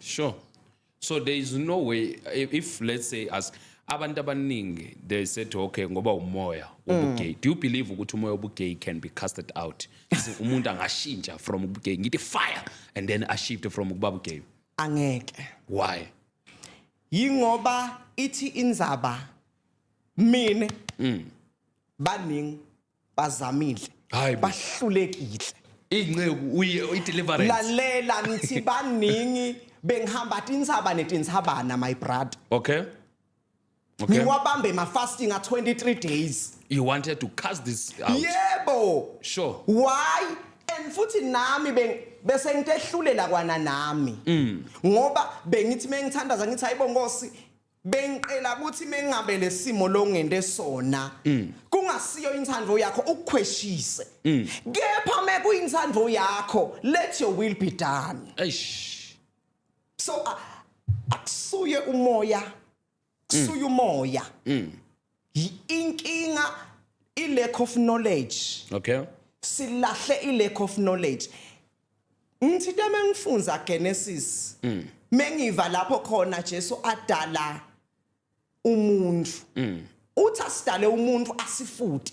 Sure. So there is no way if let's say as abantu abaningi they said okay ngoba umoya ubugay mm. do you believe ukuthi umoya ubugay can be casted out umuntu angashintsha from ubugay ngithi fire and then a shift from ukuba ubugay angeke why yingoba ithi inzaba mina mm. baningi bazamile Hayi bo. bahlulekile Inceku uye ideliverance. lalela ngithi baningi bengihamba tintsaba netintsabana my brother Okay. Okay. ngiwabambe ma-fasting a-23 days You wanted to cast this out. yebo Sure. why and futhi nami beng- bese ngitehlulela kwana nami Mm. ngoba bengithi mengithandaza ngithi hayibo nkosi bengiqela ukuthi mengabe lesimo longende sona mm. kungasiyo inthandvo yakho ukukhweshise mm. kepha mekuyinthandvo yakho let your will be done eish so akusuye umoya kusuye umoya mm. Y- inkinga i lack of knowledge okay silahle i lack of knowledge ngithi into mengifunza genesis mengiva lapho khona jesu adala umuntu uthi asidale umuntu asifute